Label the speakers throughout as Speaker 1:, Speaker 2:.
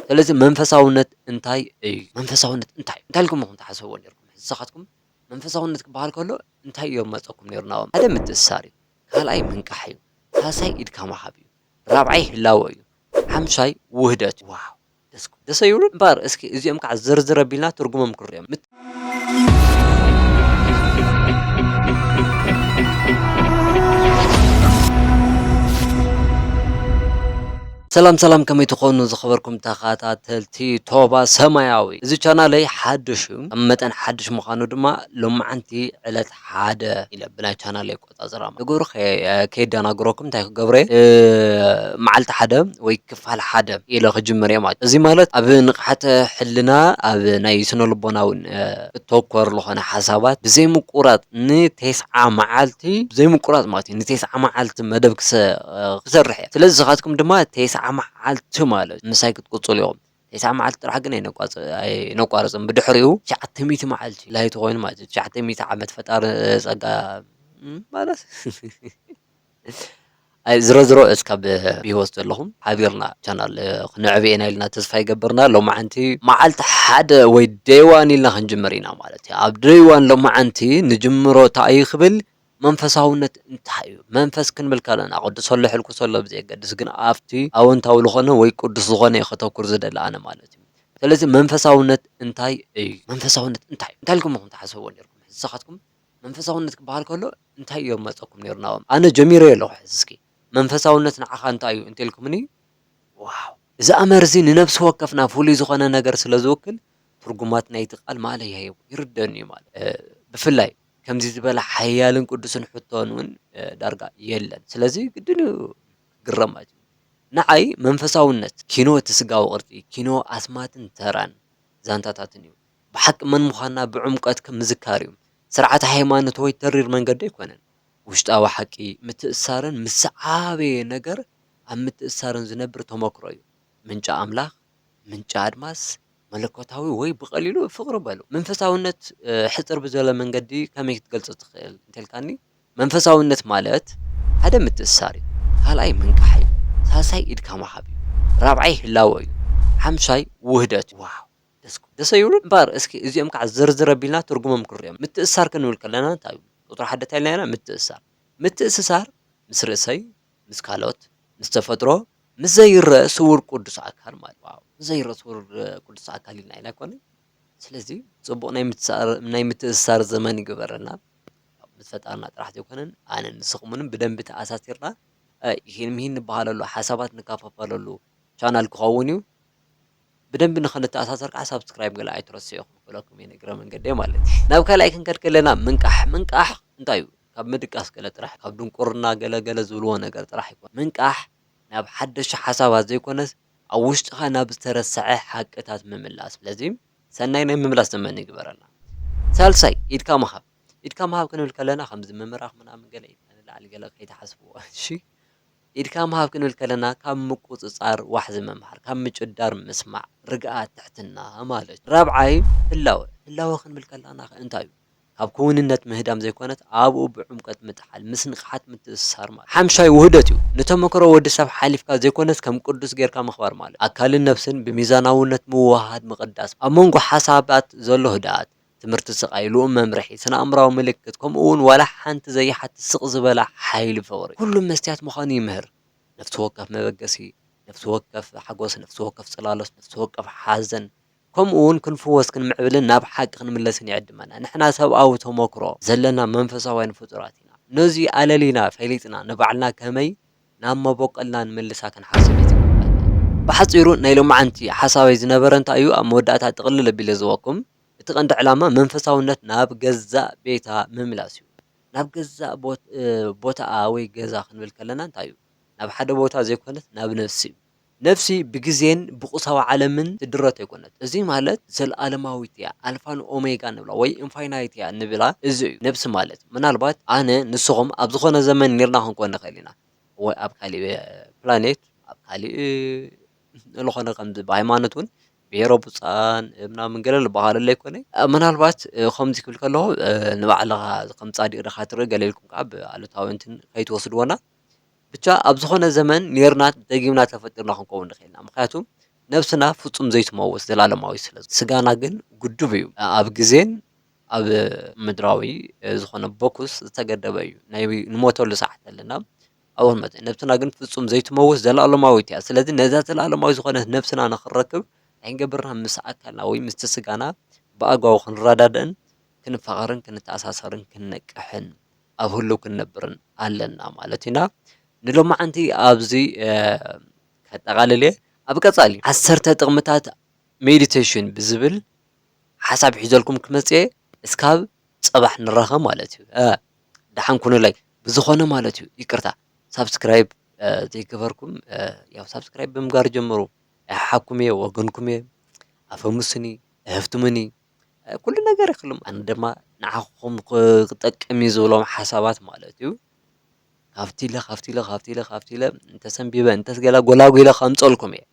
Speaker 1: ስለዚ መንፈሳውነት እንታይ እዩ? መንፈሳውነት እንታይ እዩ? እንታይ ኢልኩም ኢኹም ትሓስብዎ ኔርኩም? ንስኻትኩም መንፈሳውነት ክበሃል ከሎ እንታይ እዩ ዝመጸኩም ኔሩ ናብ ኣእምሮ? ሓደ ምትእስሳር እዩ፣ ካልኣይ ምንቃሕ እዩ፣ ሳልሳይ ኢድካ ምሃብ እዩ፣ ራብዓይ ህላወ እዩ፣ ሓምሻይ ውህደት እዩ። ዋው ደስ ክብሉ ደስ ኣይብሉን? እምበኣር እስኪ እዚኦም ክዓ ዝርዝር ኣቢልና ትርጉሞም ክንሪኦም። ሰላም ሰላም ከመይ ትኾኑ ዝኸበርኩም ተኸታተልቲ ቶባ ሰማያዊ እዚ ቻናለይ ሓድሽ እዩ ከም መጠን ሓድሽ ምዃኑ ድማ ሎማዓንቲ ዕለት ሓደ ኢለ ብናይ ቻናለይ ኣፈጻጽራ ንግብሩ ከየደናግረኩም እንታይ ክገብር'የ መዓልቲ ሓደ ወይ ክፋል ሓደ ኢለ ክጅምር'የ ማለት እዩ። እዚ ማለት ኣብ ንቕሓተ ሕልና ኣብ ናይ ስነልቦናዊ እተኮር ዝኾነ ሓሳባት ብዘይምቁራጽ ንቴስዓ መዓልቲ ብዘይምቁራጽ ማለት እዩ ንቴስዓ መዓልቲ መደብ ክሰርሕ እየ። ስለዚ ንስኻትኩም ድማ ቴስዓ መዓልቲ ማለት ምሳይ ክትቅጽሉ ኢኹም። ቴስዓ መዓልቲ ጥራሕ ግን ኣይነቋርፅን ብድሕሪኡ ትሽዓተ ሚእቲ መዓልቲ ላይቲ ኮይኑ ማለት እዩ ትሽዓተ ሚእቲ ዓመት ፈጣሪ ፀጋ ማለት ዝረዝሮ እስካብ ብሂወት ዘለኹም ሓቢርና ቻናል ክነዕብየ ኢና ኢልና ተስፋ ይገብርና ሎማዓንቲ መዓልቲ ሓደ ወይ ደይዋን ኢልና ክንጅምር ኢና ማለት እዩ ኣብ ደይዋን ሎማዓንቲ ንጅምሮ ታእዩ ክብል መንፈሳውነት እንታይ እዩ? መንፈስ ክንብል ከለና ኣቐድሰሉ ኣሕልቅሰሉ ኣብ ዘየገድስ ግን ኣብቲ ኣወንታዊ ዝኾነ ወይ ቅዱስ ዝኾነ እዩ ከተኩር ዝደሊ ኣነ ማለት እዩ። ስለዚ መንፈሳውነት እንታይ እዩ? መንፈሳውነት እንታይ እዩ? እንታይ ኢልኩም ኢኹም ትሓስብዎ ኔርኩም? ሕጂ ንስኻትኩም መንፈሳውነት ክበሃል ከሎ እንታይ እዩ ዝመጸኩም ኔሩ ናባኹም? ኣነ ጀሚረዮ ኣለኹ ሕጂ እስኪ መንፈሳውነት ንዓኻ እንታይ እዩ እንተ ኢልኩምኒ ዋው እዚ ኣምር እዚ ንነብሲ ወከፍና ፍሉይ ዝኾነ ነገር ስለ ዝውክል ትርጉማት ናይቲ ቃል ማእለያ የብሉን ይርደኣኒ እዩ ማለት እዩ። ብፍላይ ከምዚ ዝበለ ሓያልን ቅዱስን ሕቶን እውን ዳርጋ የለን። ስለዚ ግድን እዩ ክግረም ማለት እዩ። ንዓይ መንፈሳውነት ኪኖ እቲ ስጋዊ ቅርጺ፣ ኪኖ ኣስማትን ተራን ዛንታታትን እዩ። ብሓቂ መን ምዃንና ብዕምቈት ምዝካር እዩ። ስርዓተ ሃይማኖት ወይ ተሪር መንገዲ ኣይኰነን። ውሽጣዊ ሓቂ፣ ምትእስሳርን ምስ ዝዓበየ ነገር ኣብ ምትእስሳርን ዝነብር ተመክሮ እዩ። ምንጪ ኣምላኽ፣ ምንጪ ኣድማስ፣ መለኮታዊ ወይ ብቐሊሉ ፍቕሪ በሉ። መንፈሳውነት ሕጽር ብዝበለ መንገዲ ከመይ ክትገልጾ ትኽእል እንተልካኒ መንፈሳውነት ማለት ሓደ ምትእስሳር እዩ ካልኣይ ምንቃሕ እዩ ሳልሳይ ኢድካ ምሃብ እዩ ራብዓይ ህላወ እዩ ሓምሻይ ውህደት እዩ። ዋው ደስ ክብሉ ደሰ ኣይብሉን እምበር እስኪ እዚኦም ካዓ ዝርዝር ኣቢልና ትርጉሞም ክንሪኦም ምትእስሳር ክንብል ከለና እንታይ እዩ ቁጽሪ ሓደ እንታይ ኢልና ነይርና ምትእስሳር ምትእስሳር ምስ ርእሰይ ምስ ካልኦት፣ ምስ ተፈጥሮ፣ ምስ ዘይረእ ስውር ቅዱስ ኣካል ማለት እዩ። ዋው! ምስ ዘይረእ ስውር ቅዱስ ኣካል ኢልና ኢና ኣይኮነን። ስለዚ ጽቡቕ ናይ ምትስሳር ናይ ምትእስሳር ዘመን ይግበረልና። ምስ ፈጣርና ጥራሕ ዘይኮነን ኣነን ንስኹምንን ብደንቢ ተኣሳሲርና ኢሂን ምሂን ንበሃለሉ፣ ሓሳባት ንከፋፈለሉ ቻናል ክኸውን እዩ። ብደንቢ ንክንተኣሳሰር ከኣ ሳብስክራይብ ገለ ኣይትረስዑ ክብለኩም እየ ንእግረ መንገደይ ማለት እዩ። ናብ ካልኣይ ክንከድ ከለና ምንቃሕ ምንቃሕ እንታይ እዩ ካብ ምድቃስ ገለ ጥራሕ ካብ ድንቁርና ገለ ገለ ዝብልዎ ነገር ጥራሕ ኣይኮነን ምንቃሕ ናብ ሓደሹ ሓሳባት ዘይኮነስ ኣብ ውሽጥኻ ናብ ዝተረሰዐ ሓቅታት ምምላስ ስለዚ ሰናይ ናይ ምምላስ ዘመን ይግበረልና። ሳልሳይ ኢድካ ምሃብ ኢድካ ምሃብ ክንብል ከለና ከምዚ ምምራኽ ምናምን ገለ ኢድካ ንላዕሊ ገለ ከይትሓስብዎ እሺ። ኢድካ ምሃብ ክንብል ከለና ካብ ምቁጽጻር ዋሕዚ ምምሃር፣ ካብ ምጭዳር ምስማዕ፣ ርግኣት፣ ትሕትና ማለት እዩ። ራብዓይ ህላወ፣ ህላወ ክንብል ከላናኸ እንታይ እዩ? ካብ ክውንነት ምህዳም ዘይኮነት ኣብኡ ብዕምቆት ምጥሓል፣ ምስ ንቕሓት ምትእስሳር ማለት እዩ። ሓምሻይ ውህደት እዩ፣ ንተመክሮ ወዲ ሰብ ሓሊፍካ ዘይኮነስ ከም ቅዱስ ጌርካ ምኽባር ማለት እዩ። ኣካልን ነብስን ብሚዛናውነት ምውህሃድ ምቕዳስ፣ ኣብ መንጎ ሓሳባት ዘሎ ህድኣት፣ ትምህርቲ ስቃይሉ መምርሒ ስነኣእምራዊ ምልክት ከምኡ ውን ዋላ ሓንቲ ዘይሓትት ስቅ ዝበላ ሓይሊ ፍቅሪ ኩሉ መስትያት ምዃኑ ይምህር ነፍሲ ወከፍ መበገሲ ነፍሲ ወከፍ ሓጎስ ነፍሲ ወከፍ ጽላሎት ነፍሲ ወከፍ ሓዘን ከምኡ ውን ክንፍወስ ክንምዕብልን ናብ ሓቂ ክንምለስን ይዕድመና ንሕና ሰብኣዊ ተሞክሮ ዘለና መንፈሳውያን ፍጡራት ኢና ነዚ ኣለሊና ፈሊጥና ንባዕልና ከመይ ናብ መቦቆልና ንምልሳ ክንሓስብ ይጽበበና። ብሓጺሩ ናይ ሎምዓንቲ ሓሳበይ ዝነበረ እንታይ እዩ ኣብ መወዳእታ ጥቅልል ኣቢለ ዝህበኩም። እቲ ቀንዲ ዕላማ መንፈሳውነት ናብ ገዛእ ቤታ ምምላስ እዩ። ናብ ገዛእ ቦታኣ ወይ ገዛ ክንብል ከለና እንታይ እዩ? ናብ ሓደ ቦታ ዘይኮነስ ናብ ነፍሲ እዩ። ነፍሲ ብግዜን ብቑሳዊ ዓለምን ትድረት ኣይኮነትን። እዚ ማለት ዘለኣለማዊት እያ፣ ኣልፋን ኦሜጋን ንብላ ወይ ኢንፋይናይት እያ ንብላ እዚ እዩ። ነፍሲ ማለት ምናልባት ኣነ፣ ንስኹም ኣብ ዝኾነ ዘመን ኔርና ክንኮን ንኽእል ኢና ወይ ኣብ ካልእ ፕላኔት ኣብ ካልእ፣ እልኾነ ኸምዚ ብሃይማኖትውን ብሄሮ ቡፃን ምናምን ገለ ልበሃሉ ለይኮነ ምናልባት ኸምዚ ክብል ከለኹ ንባዕልኻ ኸም ፃዲቅ ዲኻ ትሪኢ ገለ ኢልኩም ከዓ ብኣሉታዊ እንትን ከይትወስድዎና ብቻ ኣብ ዝኾነ ዘመን ኔርና ደጊምና ተፈጢርና ክንከውን ንኽእል ኢና ምኽንያቱ ነብስና ፍፁም ዘይትመውት ዘላለማዊ ስለ ስጋና ግን ግዱብ እዩ ኣብ ግዜን ኣብ ምድራዊ ዝኾነ ቦኩስ ዝተገደበ እዩ ናይ ንሞተሉ ሰዓት ኣለና ኣወ መጠን ነብስና ግን ፍጹም ዘይትመውት ዘለኣለማዊት እያ። ስለዚ ነዛ ዘለኣለማዊ ዝኾነት ነብስና ንኽንረክብ እንታይ ክንገብር ኢና ምስ ኣካልና ወይ ምስቲ ስጋና ብኣግባቡ ክንረዳዳእን ክንፋቐርን ክንተኣሳሰርን ክንነቅሕን ኣብ ህሉው ክንነብርን ኣለና ማለት ኢና። ንሎማዓንቲ ኣብዚ ከጠቓልል እየ። ኣብ ቀጻሊ ዓሰርተ ጥቕምታት ሜዲቴሽን ብዝብል ሓሳብ ሒዘልኩም ክመጽእ እየ። እስካብ ጽባሕ ንራኸብ ማለት እዩ። ደሓን ኩኑለይ ብዝኾነ ማለት እዩ ይቅርታ ሳብስክራይብ ዘይገበርኩም ያው ሳብስክራይብ ብምግባር ጀምሩ ኣይሓሓኩም እየ ወገንኩም እየ ኣፈምሱኒ እሀፍትሙኒ ኩሉ ነገር ይክልም ኣነ ድማ ንዓኹም ክጠቅም እዩ ዝብሎም ሓሳባት ማለት እዩ ካብቲ ኢለ ካብቲ ኢለ ካብቲ ኢለ ካብቲ ኢለ እንተሰንቢበ እንተስ ገለ ጎላጒለ ከምፀልኩም እየ።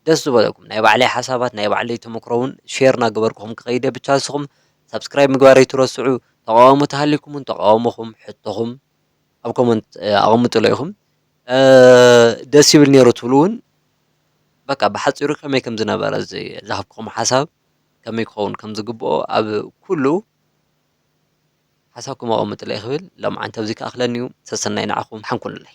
Speaker 1: ደስ ዝበለኩም ናይ ባዕለይ ሓሳባት ናይ ባዕለይ ተመክሮ ውን ሼር ናገበርኩኹም ክኸይድ እየ ብቻ ንስኹም ሳብስክራይብ ምግባር ኣይትረስዑ ተቃዋሞ ተሃሊኩም ውን ተቃውሞኹም ሕቶኹም ኣብ ኮመንት ኣቐምጥሎ ኢኹም ደስ ይብል ኔሩ ትብሉ ውን በቃ ብሓጺሩ ከመይ ከም ዝነበረ ዝሃብኩኹም ሓሳብ ከመይ ክኸውን ከም ዝግብኦ ኣብ ኩሉ ሓሳብኩም ኣቐምጥለይ ክብል ሎምዓንቲ ኣብዚ ክኣኽለኒ እዩ ሰሰናይ ንዓኹም ሓንኩሉለይ